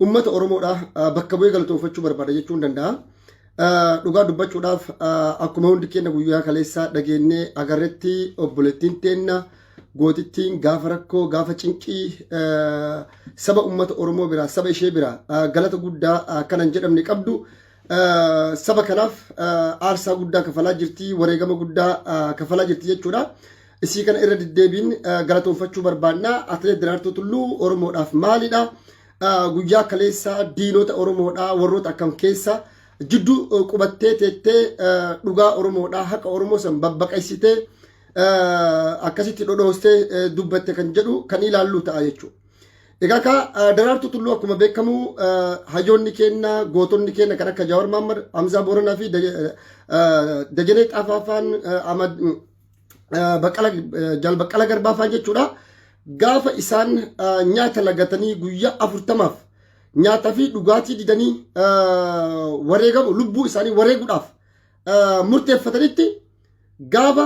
Ummata Oromoodha bakka bu'ee galatoonfachuu barbaada jechuun danda'a. Dhugaa dubbachuudhaaf akkuma hundi keenya guyyaa kaleessaa dhageennee agarretti obboleettiin teenna gootittiin gaafa rakkoo gaafa cinqii saba ummata Oromoo biraa saba ishee biraa galata guddaa akkana hin jedhamne qabdu. Saba kanaaf aarsaa guddaa kafalaa jirti wareegama guddaa kafalaa jirti jechuudha. Isii kana irra deddeebiin galatoonfachuu barbaanna. Atileet Daraartuu Tulluu Oromoodhaaf maalidha? Guyyaa kaleessaa diinota Oromoodhaa warroota akkam keessa jidduu qubattee teettee dhugaa Oromoodhaa haqa Oromoo san babbaqaysitee akkasitti dhodhoostee dubbatte kan jedhu kan ilaalluu ta'a jechuudha. Egaa ka Daraartuu Tulluu akkuma beekamu hayyoonni keenya gootonni keenya kan akka Jaawar Maammad, Hamzaa Booranaa fi Dajanee Xaafaafaan Jaal Baqqala Garbaa fa'aa jechuudha. Gaafa isaan nyaata lagatanii guyyaa afurtamaaf nyaataa fi dhugaatii didanii wareegamu lubbuu isaanii wareeguudhaaf murteeffatanitti gaafa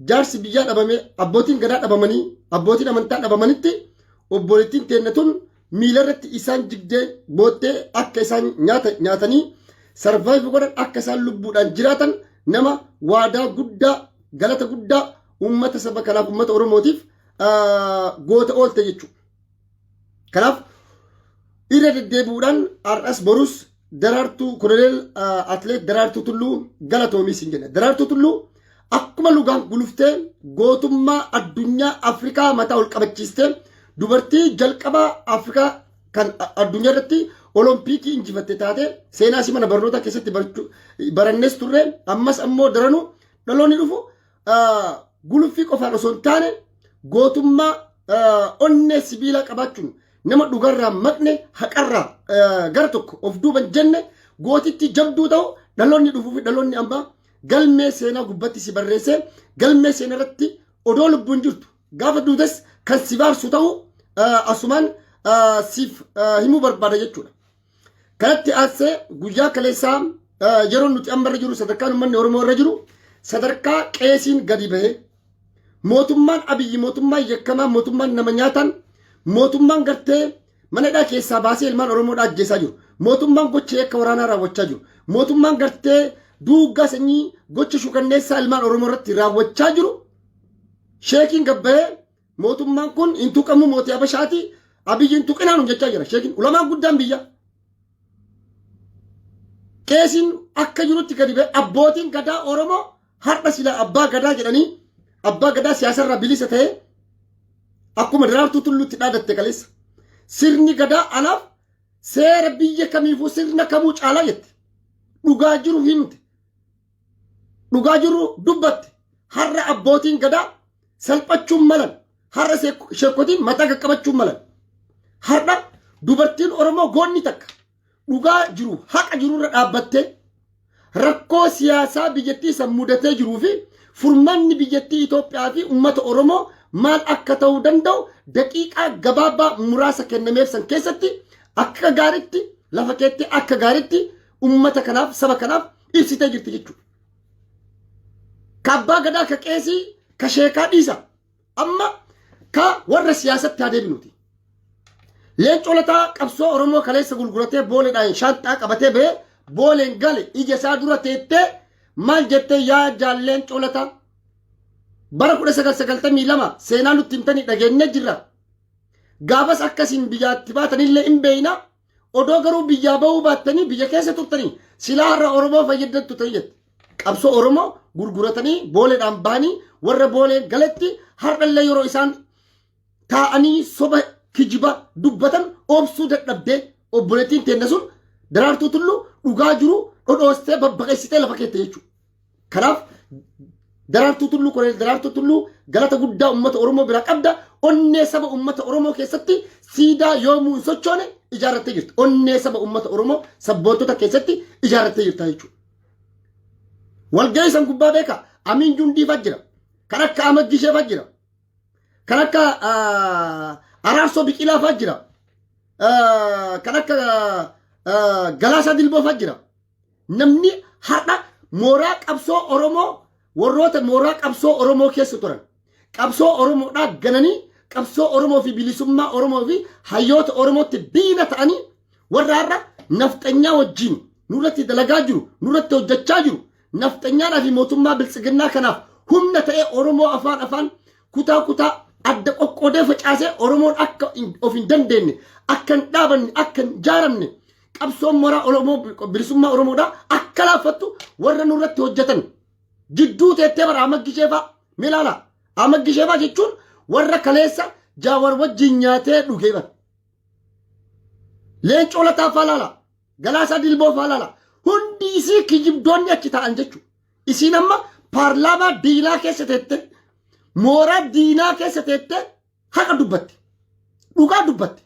jaarsi biyyaa dhabamee abbootiin gadaa dhabamanii abbootiin amantaa dhabamanitti obboleettiin teenna tun miilarratti isaan jigdee boottee akka isaan nyaata nyaatanii sarvaayiv godhan akka isaan lubbuudhaan jiraatan nama waadaa guddaa galata guddaa uummata saba kanaaf uummata oromootiif ah, goota oolte jechuudha. Kanaaf irra deddeebi'uudhaan har'as borus Daraartuu Koloneel Atleet Daraartuu Tulluu galatoomi siin jenna. Daraartuu Tulluu akkuma lugaan guluftee gootummaa addunyaa Afrikaa mataa ol qabachiistee dubartii jalqabaa Afrikaa kan addunyaa irratti olompikii injifatte taate seenaa si mana barnootaa keessatti barannees turre ammas ammoo daranuu dhaloonni dhufu guluffii qofaan osoo hin taane gootummaa onnee sibiilaa qabaachuun nama dhugarraa maqne haqarraa gara tokko of duuban jenne gootitti jabduu ta'u dhaloonni dhufuu fi dhaloonni ammaa galmee seenaa gubbatti si barreessee galmee seenaa irratti odoo lubbuun jirtu gaafa duutes kan si baarsu ta'u asumaan siif himuu barbaada jechuudha. Kanatti aansee guyyaa kaleessaa yeroo nuti amma irra jiru sadarkaan uummanni Oromoo irra jiru sadarkaa qeesiin gadi bahee mootummaan abiyyi mootummaan yakkamaa mootummaan nama nyaataan mootummaan gartee mana hidhaa keessaa baasee ilmaan Oromoo ajjeesaa jiru mootummaan gocha yakka waraanaa raawwachaa jiru mootummaan gartee duuggaa sanyii gocha shukanneessaa ilmaan Oromoo irratti raawwachaa jiru sheekiin gabbahee Mootummaan kun hin tuqamu mootii Habashaati. Abiyyi hin tuqinaa nun jechaa jira. Sheekin ulamaan guddaan biyya. Qeesiin akka jirutti gadi ba'e abbootiin gadaa Oromoo har'a sila abbaa gadaa jedhanii abbaa gadaa siyaasarraa bilisa ta'e akkuma daraartuu tulluutti dhaadatte kaleessa. Sirni gadaa anaaf seera biyya kamiifuu sirna kamuu caalaa jette. Dhugaa jiru himte. dhugaa jirru dubbatte har'a abbootiin gadaa salphachuun malan har'a sheekotiin mataa qaqqabachuun malan har'a dubartiin oromoo goonni takka dhugaa jiru haqa jiru irra dhaabbattee rakkoo siyaasaa biyyattii san mudatee jiruu fi furmaanni biyyattii Itoophiyaa fi uummata oromoo maal akka ta'uu danda'u daqiiqaa gabaabaa muraasa kennameef san keessatti akka gaaritti lafa keetti akka gaaritti ummata kanaaf saba kanaaf ibsitee jirti jechuudha. Ka abbaa gadaa ka qeesii ka sheekaa dhiisa amma ka warra siyaasatti haa deebinuti. Leencoo lataa qabsoo Oromoo kaleessa gurguratee booleedhaan shaanxaa qabatee ba'ee booleen gale ija isaa dura teettee maal jettee yaa jaal leencoo lataa bara 1992 seenaa nutti himtanii dhageenyee jirra. Gaafas akkasiin biyyaatti baatanillee hin beeyna Odoo garuu biyyaa bahuu baattanii biyya keessa turtanii silaa har'a Oromoo fayyaddattu ta'e jette. Qabsoo Oromoo gurguratanii booleedhaan bahanii warra boolee galatti har'allee yeroo isaan taa'anii soba kijiba dubbatan obsuu dadhabdee obboleettiin teenna sun daraartuu tulluu dhugaa jiru dhodhoostee babbaqessitee lafa keette jechuudha. Kanaaf daraartuu tulluu koloneel daraartuu tulluu galata guddaa uummata Oromoo biraa qabda onnee saba uummata Oromoo keessatti siidaa yoomuu hin sochoone ijaarrattee jirta. Onnee saba uummata Oromoo sabboontota keessatti ijaarrattee jirta jechuudha. Walgahii san gubbaa beekaa Amiin Jundiifaa jira. Kan akka Ahmad Gisheefaa jira. Kan akka ah, Araarsoo Biqilaafaa jira. Ah, Kan akka ah, Galaasaa Dilboofaa jira. Namni har'a mooraa qabsoo Oromoo warroota mooraa qabsoo Oromoo keessa turan qabsoo Oromoodhaa gananii qabsoo Oromoo fi bilisummaa Oromoo fi hayyoota Oromootti diina ta'anii warra har'a nafxanyaa wajjin nurratti dalagaa jiru nurratti hojjechaa jiru nafxanyaadhaa fi mootummaa biltsiginnaa kanaaf humna ta'ee Oromoo afaan afaan kutaa kutaa adda qoqqoodee facaasee Oromoon akka hin- of hin dandeenye akka hin dhaabanne akka hin jaaramne qabsoon moraa Oromoo bilisummaa Oromoodhaa akka laaffattu warra nurratti hojjetan jidduu teettee bara Amaggisheefaa mee ilaala. Amaggisheefaa jechuun warra kaleessa jaawar wajjin nyaatee dhugee bara. Leencoo lataa faa ilaala. Galaasaa dilboo faa ilaala. Hundi isii kijibdoonni achi taa'an jechuudha. Isiin amma paarlaamaa diinaa keessa teettee mooraa diinaa keessa teettee Haqa dubbatte. Dhugaa dubbatte.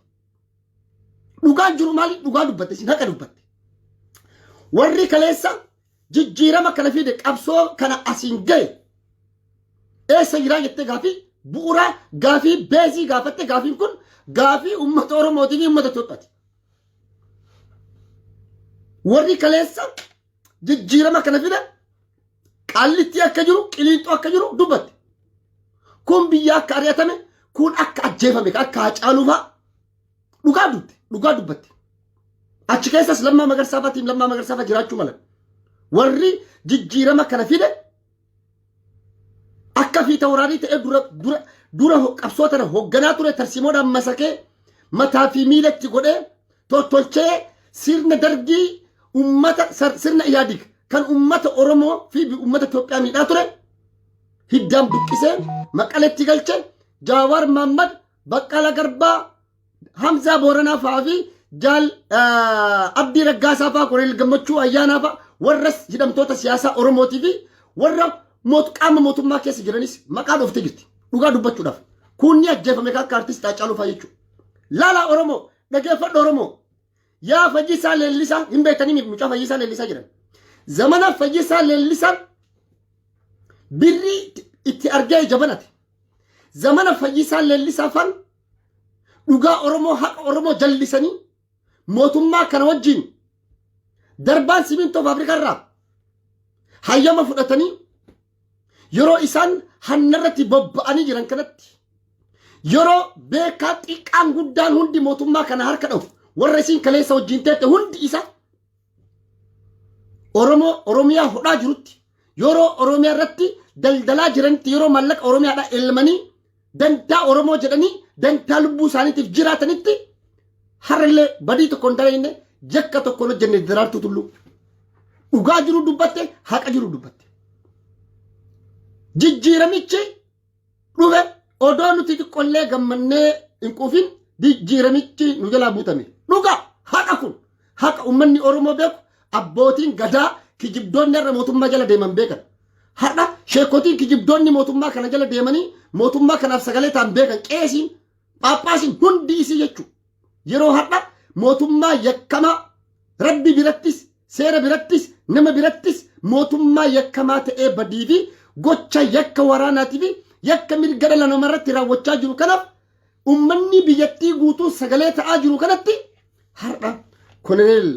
Dhugaan jiru maali? Dhugaa dubbatte. Isin haqa dubbatte. Warri kaleessa jijjiirama kana fide qabsoo kana asiin gahe eessa jiraa jettee gaafii bu'uuraa gaafii beezii gaafatte gaafiin kun gaafii uummata Oromootii fi uummata Itoophiyaati. Warri kaleessa jijjiirama kana fida qaallittii akka jiru qiliinxoo akka jiru dubbatti. Kun biyya akka ari'atame kun akka ajjeefame akka hacaaluu fa'a dhugaa dubbatte dhugaa dubbatte. Achi keessas lammaa magarsaa fa'a tiim lammaa magarsaa fa'a jiraachuu mala. Warri jijjiirama kana fide Akka fiita waraanii ta'ee dura dura dura ho- qabsoo tana hoogganaa ture tarsiimoodhaan masakee mataa fi miilatti godhee tottolchee sirna dargii ummata sar- sirna iyaadig kan ummata Oromoo fi bi- ummata Itoophiyaa miidhaa ture hiddaan buqqisee maqaletti galche Jaawaar Maammad Baqqala Garbaa Hamzaa Booranaa fa'aa fi Jaal Abdii Raggaasaa fa'aa Kolonel Gammachuu Ayyaanaa fa'aa warra hidhamtoota siyaasaa Oromootii fi warra qaama mootummaa keessa jiranis maqaa dhooftee jirti. Dhugaa dubbachuudhaaf. Kunni ajjeefame kan akka artistii Haacaaluu fa'aa jechuudha. Laalaa Oromoo dhageeffadhu Oromoo. Yaa fayyisaa leellisaa hin beektanii mucaa fayyisaa leellisaa jedhan. Zamana fayyisaa leellisaan birrii itti argee jabanate. Zamana fayyisaa leellisaa faan dhugaa Oromoo haqa Oromoo jallisanii mootummaa kana wajjin darbaan simintoo faabirikaa irraa hayyama fudhatanii yeroo isaan hannarratti bobba'anii jiran kanatti yeroo beekaa xiqqaan guddaan hundi mootummaa kana harka dhahu warra isiin kaleessa wajjin teette hundi isaa Oromoo Oromiyaa hodhaa jirutti yeroo Oromiyaa irratti daldalaa jiranitti yeroo maallaqa Oromiyaadhaa elmanii dantaa Oromoo jedhanii dantaa lubbuu isaaniitiif jiraatanitti har'illee badii tokko hin dalagne yakka tokko hin hojjenne daraartuu tulluu. Dhugaa jiru dubbatte haqa jiru dubbatte. Jijjiiramichi Dhume odoo nuti xiqqollee gammannee hin quufin jijjiiramichi nu jalaa buutame. Dhuga haqa kun haqa uummanni Oromoo beeku abbootiin gadaa kijibdoonni har'a mootummaa jala deeman beekan. Har'a sheekotiin kijibdoonni mootummaa kana jala deemanii mootummaa kanaaf sagalee ta'an beekan qeesiin Phaaphaasiin hundi isii jechu yeroo har'a mootummaa yakkamaa rabbi birattis seera birattis nama birattis mootummaa yakkamaa ta'ee badii fi gocha yakka waraanaatii fi yakka mirga dhala namaa irratti raawwachaa jiru kanaaf ummanni biyyattii guutuu sagalee ta'aa jiru kanatti har'a koloneel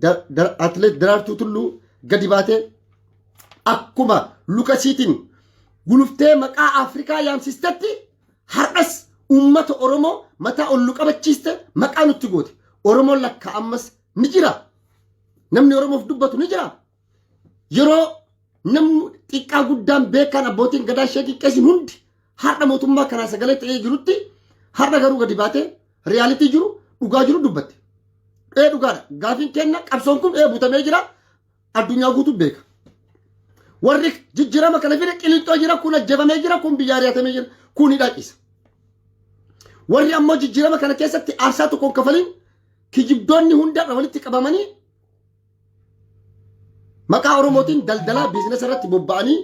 Da- Da- atleet Daraartuu Tulluu gadi baatee akkuma lukasiitiin guluftee maqaa Afrikaa yaamsistetti Har'as uummata Oromoo mataa ol nu qabachiiste maqaa nutti goote. Oromoon lakkaa ammas ni jira. Namni Oromoof dubbatu ni jira. Yeroo namni xiqqaa guddaan beekaan abbootiin gadaa ishee xiqqeessin hundi har'a mootummaa kanaa sagalee ta'ee jirutti har'a garuu gadi baatee riyaalitii jiru dhugaa jiru dubbatte. Ee dhugaadha. Gaafiin kenna qabsoon kun ee butamee jira. addunyaa guutuu beeka. Warri jijjiirama kana fide qilixxoo jira kun ajjefamee jira kun biyya ari'atamee jira kun hidhaa ciisa. Warri ammoo jijjiirama kana keessatti aarsaa tokko hin kafalin kijibdoonni hundarra walitti qabamanii maqaa Oromootiin daldalaa biizinasa irratti bobba'anii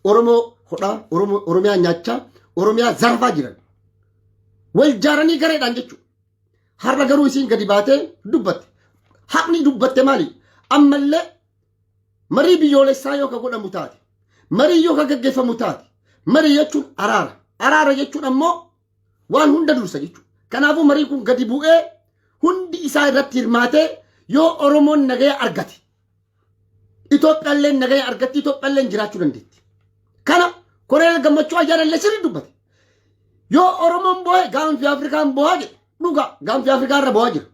Oromoo hodhaa, Oromoo- Oromiyaa nyaachaa, Oromiyaa zarafaa jiran. Wal jaaranii gareedhaan jechuudha. Har'a garuu isiin gadi baatee dubbatte. Haqni dubbatte maali? Ammallee marii biyyoolessaa yoo ka godhamu taate, marii yoo ka gaggeeffamu taate, marii jechuun araara. Araara jechuun ammoo waan hunda dursa jechuudha. Kanaafuu marii kun gadi bu'ee hundi isaa irratti hirmaatee yoo Oromoon nagaya argate Itoophiyaalleen nagaya argatti Itoophiyaalleen jiraachuu dandeetti. Kana Koloneel Gammachuu Ayyaanallee sirrii dubbate. Yoo Oromoon boo'e gaanfi Afrikaan boo'aa jedhe dhugaa gaanfi Afrikaa irra boo'aa jira.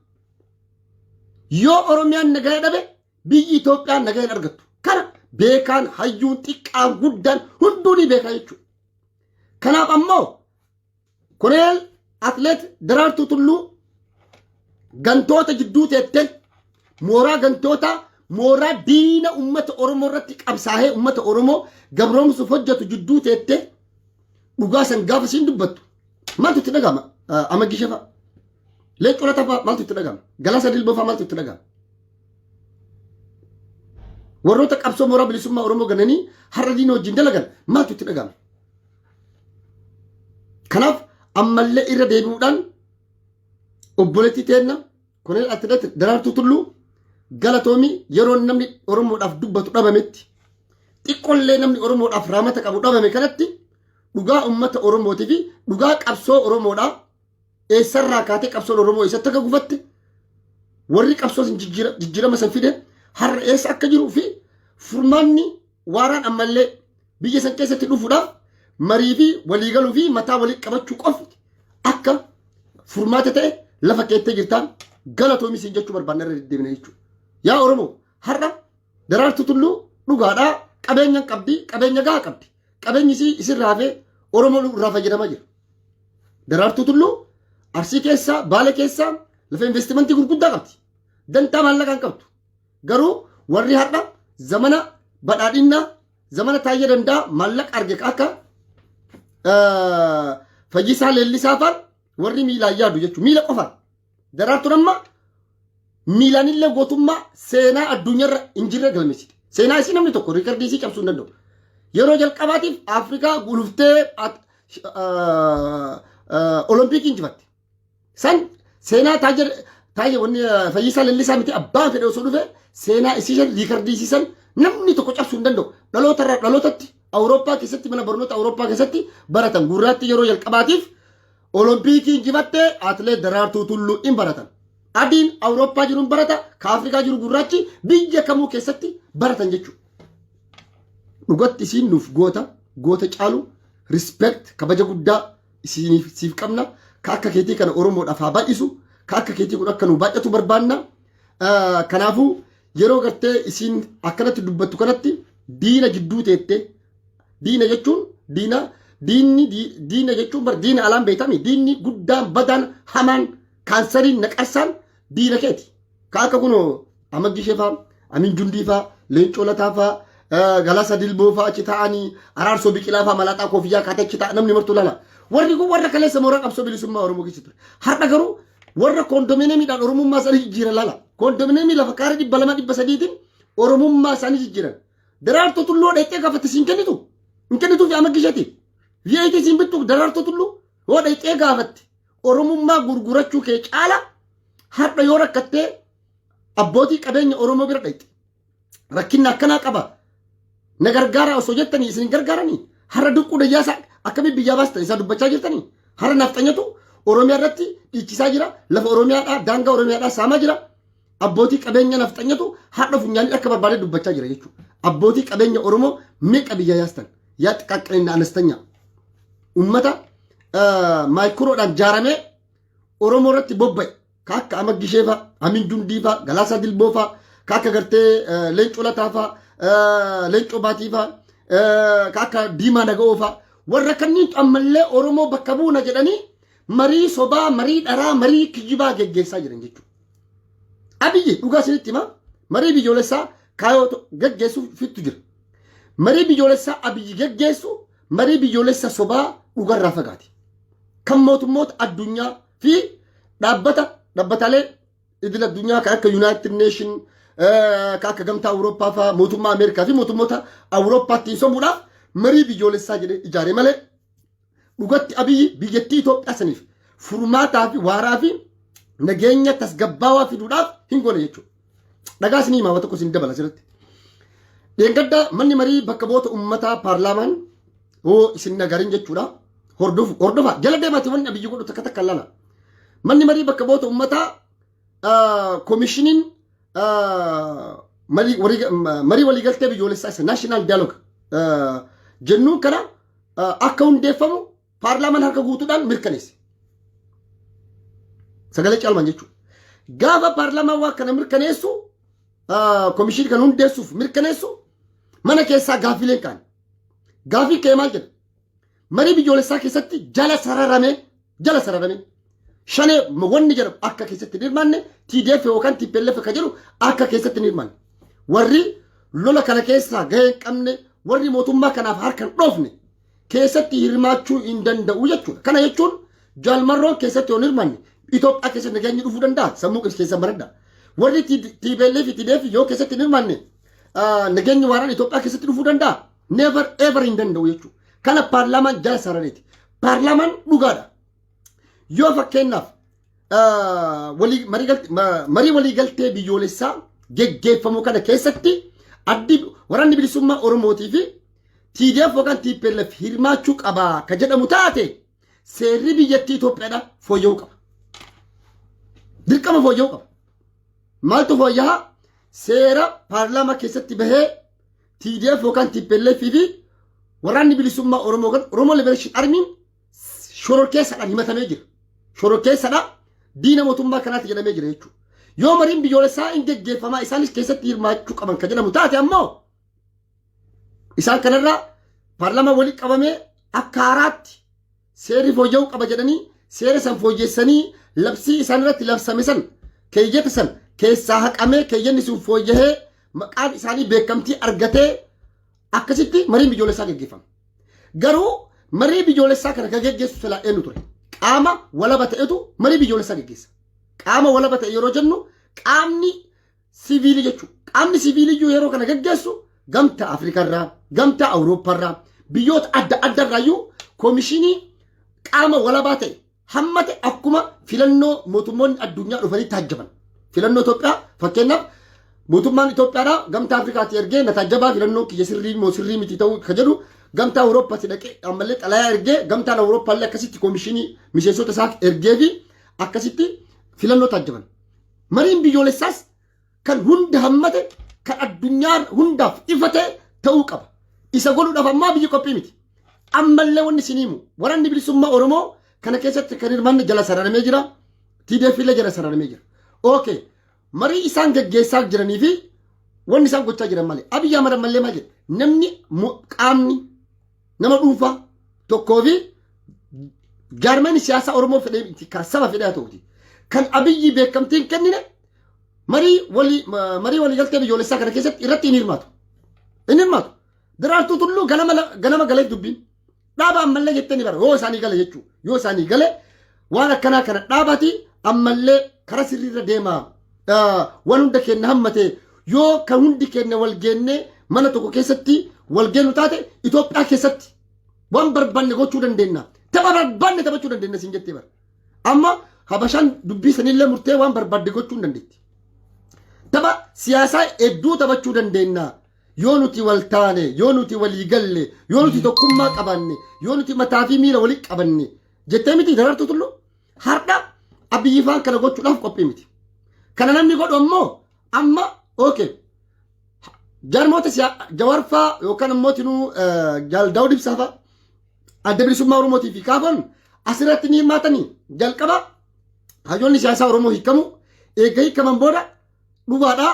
Yoo Oromiyaan nagaya dhabe biyyi Itoophiyaan nagaya hin argattu. Kana beekaan hayyuun xiqqaan guddaan hunduu ni beekaa jechuudha. Kanaaf ammoo Koneel Atleet Daraartuu Tulluu gantoota jidduu teette mooraa gantootaa mooraa diina ummata Oromoo irratti qabsaahee ummata Oromoo gabroomsuuf hojjetu jidduu teette dhugaa san gaafa siin dubbattu maaltu itti dhagama amma gishefa leencoo latafaa maaltu itti dhagama galasa dilbofaa maaltu itti dhagama warroota qabsoo mooraa bilisummaa Oromoo gananii har'a diina wajjin dalagan maaltu itti dhagama Kanaaf ammallee irra deebi'uudhaan obboleettii teenna Koloneel Atileet Daraartuu Tulluu galatoomii yeroo namni Oromoodhaaf dubbatu dhabametti xiqqollee namni Oromoodhaaf raamata qabu dhabame kanatti dhugaa uummata Oromootii fi dhugaa qabsoo Oromoodhaa eessarraa kaatee qabsoon Oromoo eessatti akka gufatte warri qabsoo san jijjiira- jijjiirama san fide har'a eessa akka jiruu fi furmaanni Waaraan ammallee biyya san keessatti dhufuudhaaf marii fi waliigaluu fi mataa walii qabachuu qofti akka furmaata ta'e lafa keettee jirtaan galatoomi siin jechuu barbaanna irra deddeebina jechuudha. Yaa Oromoo har'a daraartu tulluu dhugaadhaa qabeenya hin qabdi qabeenya gahaa qabdi qabeenyi isii isirraa hafee Oromoo irraa fayyadamaa jira. Daraartu tulluu arsii keessaa baala keessaa lafa investimentii gurguddaa qabdi. Dantaa maallaqaa hin qabdu. Garuu warri har'a zamana badhaadhinnaa zamana taayya dandaa maallaqa arge akka fayyisaa leellisaa faan warri miilaan yaadu jechuudha. Miila qofaan. Daraartuun amma miilaan illee gootummaa seenaa addunyaarra hin jirre galmeessite. Seenaa isii namni tokko riikardii isii cabsuu hin danda'u. Yeroo jalqabaatiif Afrikaa guluftee Olompikii injifatte. San seenaa taajir taajir wanni fayyisaa lallisaa miti abbaan fedhe osoo dhufe seenaa isiisan riikardii isiisan namni tokko cabsuu hin danda'u. Dhaloota irraa dhalootatti Awurooppaa keessatti mana barnoota Awurooppaa keessatti baratan gurraatti yeroo jalqabaatiif Olompikii injifattee atileet Daraartuu Tulluu in baratan. Adiin Awurooppaa jiru hin barata ka Afrikaa jiru gurraachi biyya kamuu keessatti baratan jechuudha. Dhugatti isiin nuuf goota goota caalu respect kabaja guddaa Siiniif siif qabna. Ka akka keetii kana Oromoodhaaf haa baay'isu. Ka akka keetii kun akka nu baay'atu barbaanna. Kanaafuu yeroo gartee isiin akkanatti dubbattu kanatti diina jidduu teettee diina jechuun diina diinni diina jechuun bar diina alaan beekami diinni guddaan badaan hamaan kaansariin naqarsaan diina keeti. Ka akka kun Amaddi Shefaa, Amin Jundii faa, Leencoo Lataa faa, Galasa Dilboo faa achi taa'anii, Araarsoo Biqilaa faa malaaxaa koofiyyaa kaatee achi taa'a namni martuu laala. Warri kun warra kaleessa mooraa qabsoo bilisummaa Oromoo keessa ture. Har'a garuu warra koondomineemiidhaan Oromummaa isaanii jijjiiran laala. Koondomineemii lafa kaaree dhibba lama dhibba sadiitiin Oromummaa isaanii jijjiiran. Daraartoo tulluu dheettee gaafatti siin kennitu. Hin kennituufi Amaddi Shetiif. Viyeetii siin bittu daraartoo tulluu. Yoo dheettee gaafatti. Oromummaa gurgurachuu kee caala har'a yoo rakkattee abbootii qabeenya Oromoo bira dhaqxe. Rakkinni akkanaa qaba. Na gargaaraa osoo jettanii isin hin gargaaranii har'a duqquu dayyaasaa akkamiin biyyaa baastan isaa dubbachaa jirtanii har'a nafxanyatu Oromiyaa irratti dhiichisaa jira lafa Oromiyaadhaa daangaa Oromiyaadhaa saamaa jira. Abbootii qabeenya nafxanyatu har'a funyaanii akka barbaade dubbachaa jira jechuudha. Abbootii qabeenya Oromoo meeqa biyya yaastan yaa xiqqaaqqinna anastanya ummata maayikuroodhaan jaaramee Oromoo irratti bobba'e ka akka amma gisheefaa, amin jundiifaa, galaasaa dilboofaa, ka akka gartee leencoo lataafaa, leencoo baatiifaa, ka akka diimaa naga'oofaa warra kanniintu ammallee Oromoo bakka buuna jedhanii marii sobaa, marii dharaa, marii kijibaa geggeessaa jiran jechuudha. Abiyyi dhugaa isinitti hima marii biyyoolessaa kaayoo gaggeessuuf fittu jira. Marii biyyoolessaa abiyyi gaggeessu marii biyyoolessa sobaa dhugarraa fagaate. Kan mootummoota addunyaa fi dhaabbata dhaabbataalee idil addunyaa kan akka Yuunaayitid Neeshin kan akka gamtaa Awurooppaa fa'aa mootummaa Ameerikaa fi mootummoota Awurooppaattiin sobuudhaaf marii biyyoolessaa jedhee ijaare malee Dhugatti Abiyyi biyyattii Itoophiyaa saniif furmaataa fi waaraa fi nageenya tasgabbaawaa fiduudhaaf hin goone jechuudha. Dhagaa isinii himaa tokko isin dabala asirratti. Dheengaddaa manni marii bakka bu'oota uummataa paarlaamaan hoo isin nagarin jechuudha. Hordofu hordofaa jala deemaati wanni Abiyyi godhu takka takka lala. Manni marii bakka bu'oota uummataa komishiniin marii waliigaltee biyyoolessaa isa naashinaal dialoog jennuun kana akka hundeeffamu paarlaamaan harka guutuudhaan mirkaneesse. Sagalee caalmaan jechuudha. Gaafa paarlaamaan waan kana mirkaneessu komishinii kana hundeessuuf mirkaneessu mana keessaa gaaffileen ka'an. Gaaffiin ka'e maal jedha? Marii biyyoolessaa keessatti jala sararamee jala sararamee shanee wanni jedhamu akka keessatti hin hirmaanne TDF yookaan TPLF akka jedhu akka keessatti hin hirmaanne. Warri lola kana keessaa gahee hin qabne warri mootummaa kanaaf harka hin dhoofne keessatti hirmaachuu hin danda'u jechuudha. Kana jechuun jaalmarroon keessatti yoo hin hirmaanne Itoophiyaa keessa nageenyi dhufuu danda'a sammuu keessa baradha. Warri TPLF fi TDF yoo keessatti hin hirmaanne nageenyi waaraan Itoophiyaa keessatti dhufuu danda'a. Never ever hin danda'u jechuudha. Kana paarlaamaan jala sarareeti. Paarlaamaan dhugaadha. Yoo fakkeenyaaf ah, walii- marii galt- ma- marii waliigaltee biyyoolessaa geggeeffamu kana keessatti addi waraanni bilisummaa Oromootii fi TDF yookaan TPLF hirmaachuu qaba ka jedhamu taate seerri biyyattii Itoophiyaadha fooyya'uu qaba. Dirqama fooyya'uu qaba. Maaltu fooyya'aa? Seera paarlaamaa keessatti bahee TDF yookaan TPLF fi waraanni bilisummaa Oromoo yookaan Oromoo Liberation Armiin shororkeessaadhaan himatamee jira. Shororkeessaadhaan diina mootummaa kanaatti jedhamee jira jechuudha. Yoo mariin biyyoolessaa hin geggeeffamaa isaanis keessatti hirmaachuu qaban kan jedhamu taate ammoo isaan kanarraa paarlaamaa walitti qabamee akka haaraatti Seerri fooyya'uu qaba jedhanii seera san fooyyessanii labsii isaan irratti labsame san keeyyata san keessaa haqamee keeyyanni sun fooyyahee maqaan isaanii beekamtii argatee akkasitti marii biyyoolessaa gaggeeffama. Garuu marii biyyoolessaa kana kan gaggeessu silaa eenyu ture? Qaama walaba ta'etu marii biyyoolessaa gaggeessa. Qaama walaba ta'e yeroo jennu qaamni Siviilii jechuun qaamni siviilii iyyuu yeroo kana gaggeessu gamtaa Afrikaarraa, gamtaa Awurooppaarraa, biyyoota adda addaarraa iyyuu koomishinii qaama walabaa ta'e hammate akkuma filannoo mootummoonni addunyaa dhufanii taajjaban. Filannoo Itoophiyaa fakkeenyaaf mootummaan Itoophiyaadhaa gamtaa Afrikaatti ergee na taajjabaa filannoo kiyya sirrii moo sirrii miti ta'uu kan jedhu gamtaa Awurooppaatti dhaqee ammallee xalayaa ergee gamtaan Awurooppaallee akkasitti koomishinii miseensota isaa ergee fi akkasitti filannoo taajjaban. Mariin biyyoolessaas kan hunda hammate kan addunyaa hundaaf ifa ta'e ta'uu qaba. Isa godhuudhaaf ammaa biyyi qophii miti. Ammallee wanni isin himu waranni bilisummaa Oromoo kana keessatti kan hirmaanne jala sararamee jira. TDF illee jala sararamee jira. Okay. Marii isaan gaggeessaa jiranii fi wanni isaan gochaa jiran malee. Abiyyi Ahmad ammallee maal jedhe? Namni qaamni nama dhuunfaa tokkoo fi jaarmeen siyaasaa Oromoo fedhee miti kan saba fedhee haa ta'uti. Kan abiyyi beekamtii hin kennine marii walii marii waliigaltee biyyoolessaa kana keessatti irratti hin hirmaatu. Hin hirmaatu. Daraartuu tulluu ganama ganama galee dubbiin dhaaba ammallee jettee ni bara yoo isaanii gale jechuudha. Yoo isaanii gale Waan akkanaa kana dhaabati ammallee karaa sirriirra deemaa. Waan hunda keenya hammate yoo kan hundi keenya wal geennee mana tokko keessatti wal geennu taate Itoophiyaa keessatti waan barbaanne gochuu dandeenya. Tapha barbaanne taphachuu dandeenya siin jettee bara. Amma habashaan dubbii sanillee murtee waan barbaadde gochuu hin dandeetti. Tapha siyaasaa hedduu taphachuu dandeenya. Yoo nuti wal taane, yoo nuti walii galle, yoo nuti tokkummaa qabaanne, yoo nuti mataa fi miila walitti qabanne Jettee miti darartuu tullu har'a abiyyi faan kana gochuudhaaf qophii miti. Kana namni godhu ammoo amma okay jarmoota siyaa jawarfaa yookaan ammoo tinuu jaal daawud ibsaafaa adda bilisummaa oromootii fi kaafan asirratti ni hirmaatanii jalqaba hayyoonni siyaasaa oromoo hiikamu eegga hiikaman booda dhugaadhaa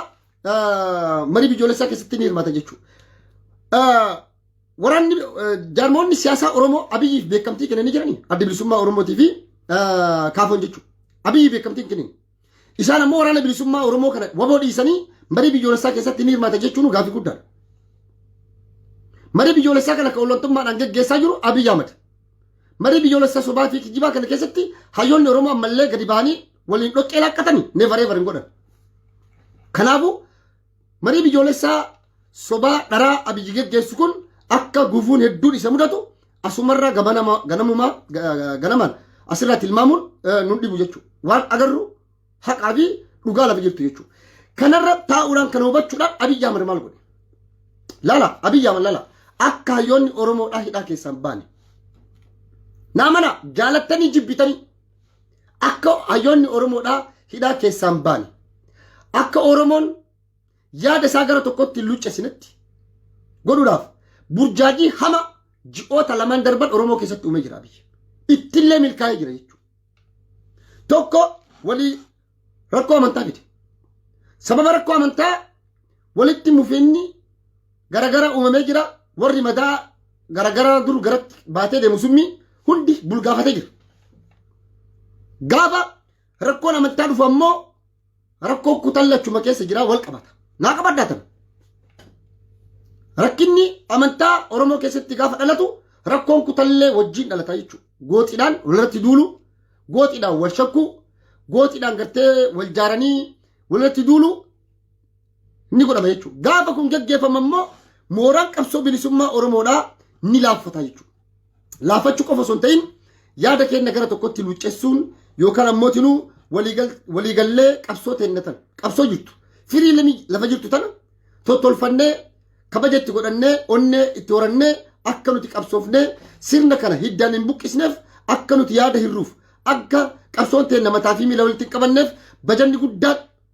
marii biyyoolessaa keessatti ni hirmaata jechuudha. waraanni jaarmoonni siyaasaa Oromoo Abiyyiif beekamtii kennanii jiranii adda bilisummaa Oromootii fi kaafoon jechuudha. Abiyyi beekamtii hin kennin. Isaan ammoo waraana bilisummaa Oromoo kana waboo dhiisanii marii biyyoolessaa keessatti ni hirmaata jechuun gaaffii guddaadha. Marii biyyoolessaa kana kan ollantummaadhaan geggeessaa jiru Abiyyi Ahmad. Marii biyyoolessaa sobaa fi kijibaa kana keessatti hayyoonni Oromoo ammallee gadi ba'anii waliin dhoqqee laaqqatanii neevaree hin godhan. Kanaafuu Marii biyyoolessaa sobaa dharaa Abiyyi geggeessu kun akka gufuun hedduun isa mudatu asumarraa gabanama- ganamumaa ga- ga- ganamaan asirraa tilmaamuun eh, nun dhibu jechuudha. Waan agarru haqaa fi dhugaa lafa jirtu jechuudha. Kanarra taa'uudhaan kana hubachuudhaan Abiyyi Ahmad maal godhe? Lala, Abiyyi Ahmad lala. Akka hayyoonni Oromoodhaa hidhaa keessaan baane. Naamana jaalattanii jibbitanii Akka hayyoonni Oromoodhaa hidhaa keessaan baane. Akka Oromoon yaada isaa gara tokkotti hin luccesinetti godhuudhaaf burjaajii hama ji'oota lamaan darban Oromoo keessatti uumee jira biyya. Ittillee milkaa'ee jira jechuudha. Tokko walii rakkoo amantaa fide. Sababa rakkoo amantaa Walitti mufiinni garagara uumamee jira. Warri madaa garagaraa dur garatti baatee deemu summii hundi bulgaafatee jira. Gaafa rakkoon amantaa dhufu ammoo rakkoo kutan lachuma keessa jira wal qabata. Naa qabaddaa tana. Rakkinni amantaa Oromoo keessatti gaafa dhalatu rakkoon kutallee wajjin dhalata jechuudha. Gooxiidhaan walirratti duulu, gooxiidhaan wal shakkuu, gooxiidhaan gartee wal jaaranii walirratti duulu ni godhama jechuudha. Gaafa kun gaggeeffamu immoo mooraan qabsoo bilisummaa Oromoodhaa ni laaffata jechuudha. Laaffachuu qofa osoo hin ta'in yaada keenya gara tokkotti luuccessuun yookaan ammoo tinuu waliigallee qabsoo teenna tana qabsoo jirtu firii lamii lafa jirtu tana tottolfannee kabaja itti godhannee onnee itti horannee akka nuti qabsoofnee sirna kana hiddaan hin buqqisneef akka nuti yaada hirruuf akka qabsoon teenna mataa fi miila walitti hin qabanneef bajanni guddaan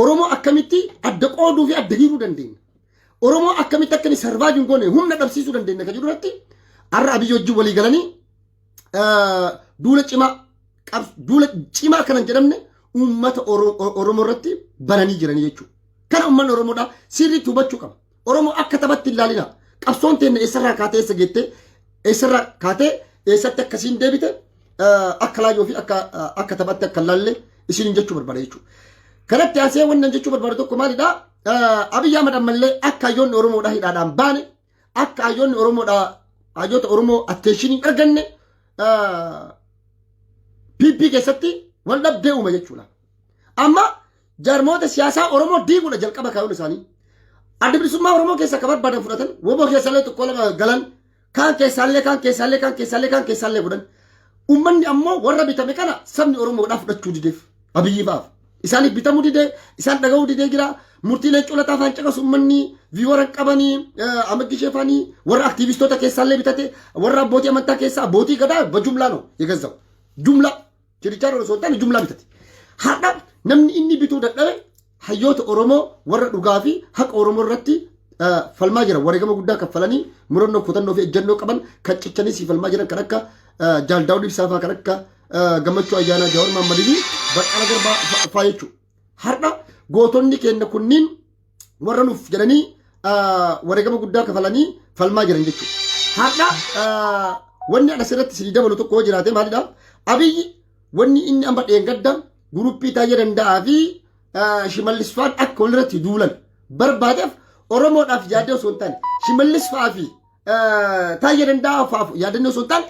Oromoo akkamitti adda qooduu fi adda hiiruu dandeenya? Oromoo akkamitti akka inni sarvaayiv hin goone humna dhabsiisuu dandeenya kan jedhu irratti har'a abiyyi wajjin walii galanii eh, duula cimaa qabs- duula cimaa kanan jedhamne uummata Oro- Oromoo irratti bananii jiranii jechuudha. Kana uummanni Oromoodhaa sirriitti hubachuu qaba. Oromoo akka taphatti hin laalina. Qabsoon teenne eessarraa kaatee eessa geettee eessarraa kaatee eessatti akkasiin deebite akka laayyoo fi akka akka taphatti akka laalle isin jechuu barbaada jechuudha. Kanatti aansee wanna jechuu barbaadu tokko maalidha? Abiyyi Ahmad ammallee akka hayyoonni Oromoodhaa hidhaadhaan baane akka hayyoonni Oromoodhaa hayyoota Oromoo atteeshiniin arganne PP keessatti wal dhabdee uuma jechuudha. Amma Jaarmoota siyaasaa Oromoo diiguudha jalqaba kaayyoon isaanii. Adda bilisummaa Oromoo keessa akka barbaadan fudhatan, woboo keessallee tokko lama galan, kaan keessaallee kaan keessaallee kaan keessaallee kaan keessaallee godhan. Uummanni ammoo warra bitame kana sabni Oromoodhaa fudhachuu dideef. Abiyyi fa'aaf. Isaaniif bitamuu didee, isaan dhaga'uu didee jira. Murtii leencoo lataa faan caqasu uummanni viiwara hin qabanii, amaggi ishee faanii, warra aktiivistoota keessaallee bitate, warra abbootii amantaa keessaa, abbootii gadaa, bajumlaa no, yegazzau. Jumlaa. Jirichaarra osoo hin taane jumlaa bitati. Har'a namni inni bituu dadhabe hayyoota Oromoo warra dhugaa fi haqa Oromoo irratti eh, falmaa jiran wareegama guddaa kaffalanii murannoo kutannoo fi ejjennoo qaban kan cichanii sii falmaa jiran kan akka eh, Jaal Daawud Ibsaa fa'aa kan akka eh, Gammachuu Ayyaanaa Jaawar Maammadii fi Baqqala Garbaa fa- fa'aa jechuudha. Har'a gootonni keenya kunniin warra nuuf jedhanii wareegama guddaa kafalanii falmaa jiran jechuudha. Har'a wanni anas irratti isinii dabalu tokko yoo jiraate maalidha? Abiyyi wanni inni amma dheengadda guruppii taa'ee danda'aa fi shimallis fa'aan akka walirratti duulan barbaadeef Oromoodhaaf yaadee osoo hin taane shimallis fa'aa fi taa'ee danda'aa fa'aaf yaadannoo osoo hin taane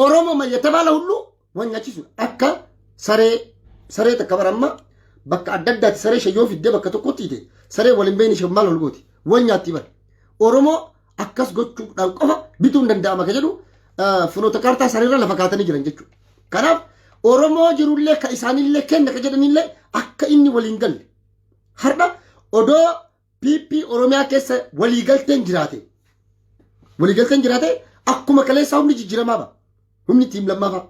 Oromoo mayyatabaala hulluu Waan nyaachisuudha. Akka saree saree takka bara amma bakka adda addaatti saree ishee yoo fiddee bakka tokkotti hite saree waliin beekni ishee maal ol gooti wal nyaatti bara. Oromoo akkas gochuudhaan qofa bituun danda'ama kan jedhu fuloota kaartaa isaaniirra lafa kaatanii jiran jechuudha. Kanaaf Oromoo jirullee kan isaanillee kenna kan jedhanillee akka inni waliin galle. Har'a odoo PP Oromiyaa keessa waliigalteen jiraate. Waliigalteen jiraate akkuma kaleessaa humni jijjiiramaa ba'a. Humni tiim lammaafaa.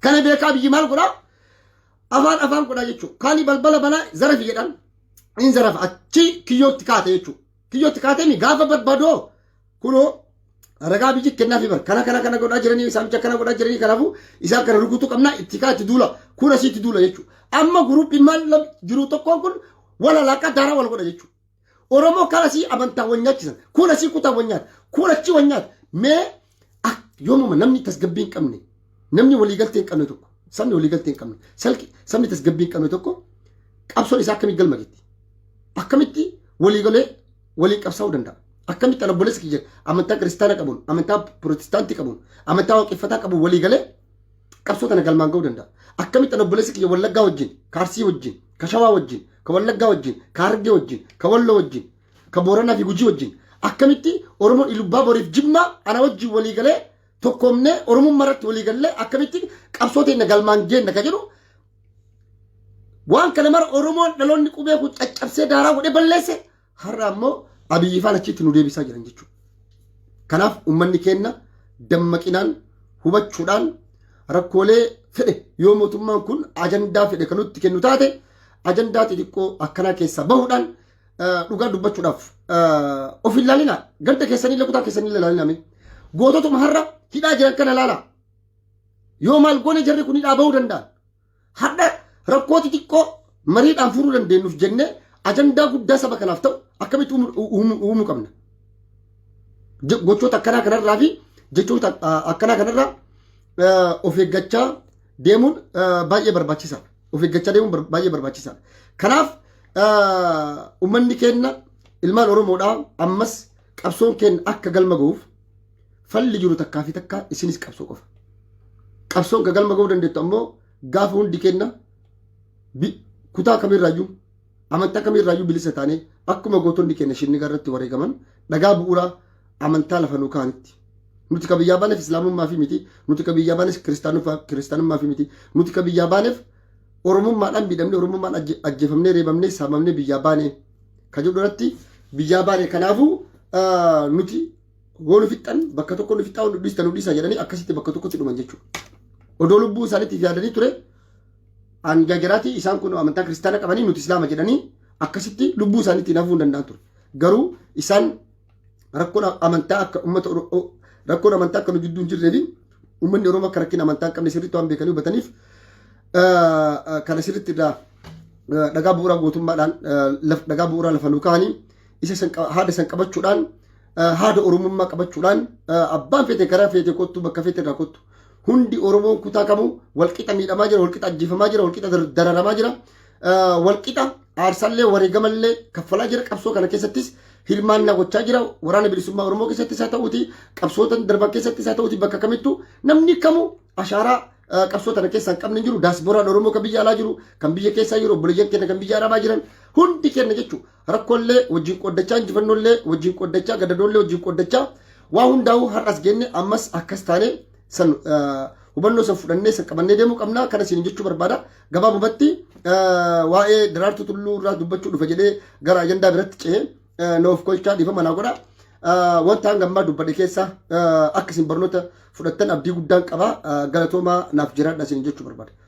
Kana beekaa biyyi maal godhaa? Afaan afaan godhaa jechuudha. Kaani balbala banaa zarafi jedhan. Inni zarafa achi kiyyootti kaate jechuudha. Kiyyootti kaatee gaafa barbaadoo kunoo ragaa biyyi kennaafi bar kana kana kana godhaa jiranii saamicha kana godhaa jiranii kanaafuu isaan kana rukutuu qabnaa itti kaa itti duula kun asii itti duula jechuudha. Amma guruupiin maal jiru tokkoon kun wal alaaqaa daaraa wal godha jechuudha. Oromoo kan asii amantaa wal nyaachisan kun asii kutaa wal nyaata kun achi wal nyaata mee yoomuma namni tasgabbii hin qabne namni waliigaltee hin qabne tokko sabni waliigaltee hin qabne salki sabni tasgabbii hin qabne tokko qabsoon isaa akkamii galma geetti akkamitti waliigalee waliin qabsaa'uu danda'a. Akkamitti ana obboleessa kiyya amantaa kiristaana qabuun, amantaa pirootestaantii qabuun, amantaa waaqeffataa qabuun walii galee qabsoo tana galmaan ga'uu danda'a. Akkamitti ana obboleessa kiyya wallaggaa wajjin, kaarsii wajjin, ka shawaa wajjin, ka wallaggaa wajjin, ka hargee wajjin, ka walloo wajjin, ka booranaa fi gujii wajjin. Akkamitti Oromoon ilubbaa boriif jimmaa ana wajjin walii galee tokkoomnee Oromummaa irratti walii gallee akkamitti qabsoo teenya galmaan geenna ka jedhu Waan kana mara Oromoon dhaloonni qubee kun caccabsee daaraa godhee balleesse har'a ammoo abiyyi faan achitti nu deebisaa jiran jechuudha. Kanaaf uummanni keenya dammaqinaan hubachuudhaan rakkoolee fedhe yoo mootummaan kun ajandaa fedhe kan nutti kennu taate ajandaa xixiqqoo akkanaa keessaa bahuudhaan eh, dhugaa dubbachuudhaaf eh, of hin laalinaa ganda keessanii illee kutaa keessanii illee laalinaa mee goototuma har'a hidhaa jiran kana laalaa Yoo maal goone jarri kun hidhaa bahuu danda'an. Hadha rakkoo xixiqqoo mariidhaan furuu dandeenyuuf jennee ajandaa guddaa saba kanaaf ta'u akkamitti uumuu qabna. Gochoota akkanaa kanarraa fi jechoota akkanaa kanarraa of eeggachaa deemuun baay'ee barbaachisaadha. Of eeggachaa deemuun baay'ee barbaachisaadha. Kanaaf uummanni keenya ilmaan Oromoodhaa ammas qabsoon keenya akka galma ga'uuf Falli jiru takkaa fi takkaa isinis qabsoo qofa. Qabsoon ka galma ga'uu dandeettu ammoo gaafa hundi kenna bi- kutaa kamirraayyuu amantaa kamirraayyuu bilisa taanee akkuma gootonni keenya shinnigaa irratti wareegaman dhagaa bu'uuraa amantaa lafa nuu kaanitti. Nuti ka biyyaa baaneef islaamummaa fi miti, nuti ka biyyaa baaneef kiristaanummaa kiristaanummaa fi miti, nuti ka biyyaa baaneef oromummaadhaan miidhamne, oromummaan ajje- ajjeefamnee, reebamnee, saamamnee biyyaa baane ka jedhu irratti biyyaa baane kanaafuu ah, nuti Woo nu fixxan bakka tokko nu fixxaa nu dhiista nu dhiisa jedhanii akkasitti bakka tokkotti dhuman jechuudha. Odoo lubbuu isaaniitiif yaadanii ture hanga jaraatii isaan kun amantaa kiristaana qabanii nuti islaama jedhanii akkasitti lubbuu isaaniitiin hafuu hin danda'an ture. Garuu isaan rakkoon amantaa akka uummata rakkoon amantaa akka nu gidduu hin jirree fi uummanni Oromoo akka rakkina amantaa hin qabne sirriitti waan beekanii hubataniif kana sirriitti irraa dhagaa bu'uuraa gootummaadhaan dhagaa bu'uuraa lafa nu kaa'anii isa san qaba- haada san qabachuudhaan eh, haada oromummaa qabachuudhaan eh, abbaan feete karaa feete kottu bakka feete irraa kottu hundi oromoon kutaa kamuu walqixa miidhamaa jira walqixa ajjeefamaa jira walqixa dar- dararamaa jira eh, walqixa aarsallee wareegamallee kaffalaa jira qabsoo kana keessattis hirmaannaa gochaa jira waraana bilisummaa oromoo keessattis haa ta'uuti qabsootan darban keessattis haa ta'uuti bakka kamittu namni kamuu ashaaraa eh, qabsoo tana keessaa hin qabne hin jiru daasbooraan oromoo kan biyya alaa jiru kan biyya keessaa jiru obboleeyyan keenya kan biyya arabaa jiran hundi keenya jechuudha rakkollee wajjin qooddachaa injifannollee wajjin qooddachaa gadadoollee wajjin qooddachaa waa hundaa'uu har'as geenne ammas akkas taane san hubannoo san fudhannee san qabannee deemuu qabna kana siin jechuu barbaada gabaabumatti waa'ee daraartuu tulluu irraa dubbachuu dhufa jedhee gara ajandaa biratti ce'ee noof kolchaa dhiifama naa godha wanta hanga ammaa dubbadhe keessa akka isin barnoota fudhattan abdii guddaan qaba galatoomaa naaf jiraadha siin jechuu barbaada.